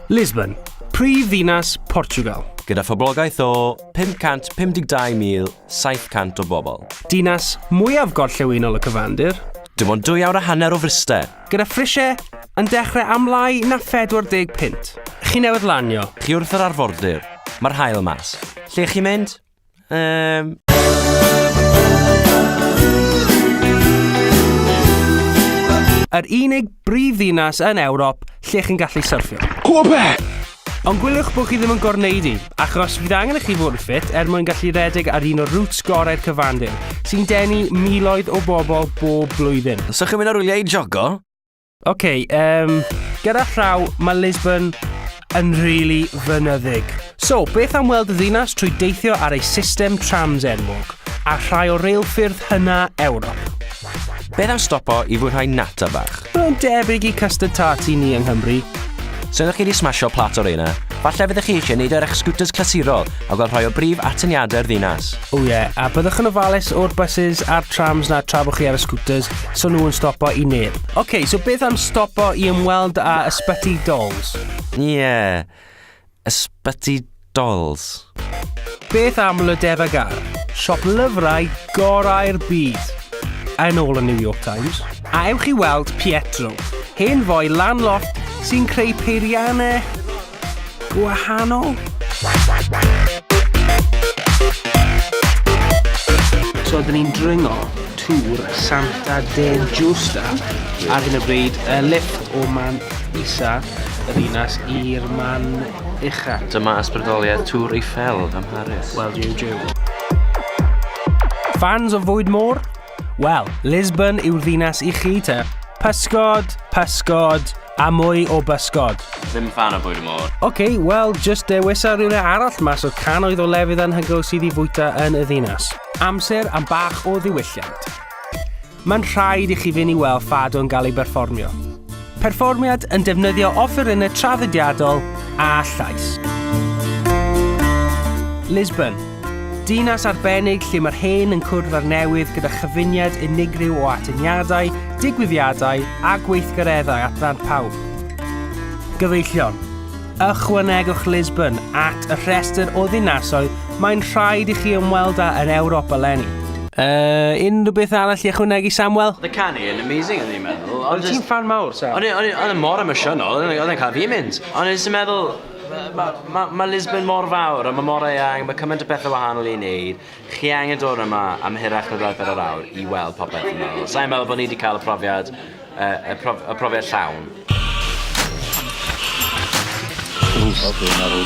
Lisbon, prif ddinas Portugal. Gyda phoblogaeth o 552,700 o bobl. Dinas mwyaf gorllewinol y cyfandir. Dim ond dwy awr a hanner o Fryste. Gyda phrisiau yn dechrau am lai na 40 punt. Chi newydd lanio. Chi wrth yr arfordir. Mae'r hael mas. Lle chi mynd? Um... Yr unig brif ddinas yn Ewrop lle chi'n gallu syrffio. Cwbe! Ond gwyliwch bod chi ddim yn gorwneud i, achos fydd angen i chi fod yn ffit er mwyn gallu rhedeg ar un o'r routes gorau'r cyfandir, sy'n denu miloedd o bobl bob blwyddyn. So chi'n mynd ar wyliau i jogo? Ok, um, gyda llaw, mae Lisbon yn rili really fynyddig. So, beth am weld y ddinas trwy deithio ar ei system trams enwog, a rhai o reilffyrdd hynna Ewrop? Beth am stopo i fwynhau nata bach? Mae'n debyg i custard tart i ni yng Nghymru. Os ydych chi wedi smasho plat o reina, falle fyddwch chi eisiau neud ar eich scooters clasurol a gweld rhai o brif atyniadau'r ddinas. O ie, a byddwch yn ofalus o'r buses a'r trams na tra bod chi ar y scooters, so nhw yn stopo i neb. Ok, so beth am stopo i ymweld â Ysbyty Dolls? Ie. Ysbyty Dolls. Beth am Le Devagar, siop lyfrau gorau'r byd? Yn ôl y New York Times, a ewch i weld Pietro, hen foi lan-loft sy'n creu peiriannau gwahanol? So, dyn ni'n dringo tŵr Santa de Giusta ar hyn o bryd, y lifft o man isa y ddinas i'r man ucha. Dyma ysbrydoliaeth Tour Eiffel ym Mharis. Wel, jiw jiw. Fans o fwyd môr? Wel, Lisbon yw'r ddinas i chi te. Pysgod, pysgod, a mwy o bysgod. Ddim fan o bwyd y môr. Oce, okay, wel, just dewisa rhywle arall mas o canoedd o lefydd anhygoel sydd i fwyta yn y ddinas. Amser am bach o ddiwylliant. mae'n rhaid i chi fynd i weld Fado yn cael ei berfformio. Perfformiad yn defnyddio offerynnau traddodiadol a llais. Lisbon, dinas arbennig lle mae'r hen yn cwrdd â'r newydd gyda chyfuniad unigryw o atyniadau, digwyddiadau a gweithgareddau at ddant pawb. Gyfeillion. Ychwanegwch Lisbon at y rhestr o ddinasoedd mae'n rhaid i chi ymweld â yn Ewrop eleni. Uh, unrhyw beth arall i ychwanegu, Samuel? Oedd y canu yn amazing o'n i'n meddwl. Ond ti'n fan mawr, Sam? Ond oedd yn mor emosiynol, oedd yn cael fi mynd. Ond oedd yn meddwl, mae ma, ma Lisbon mor fawr, a mae mor eang, mae cymaint o bethau wahanol i wneud. Chi angen dod yma am hirach na bedwar yr awr i weld popeth dwi'n meddwl. Sa i'n meddwl bod ni wedi cael y profiad, y, y, prof, y profiad llawn. Os dwi'n meddwl,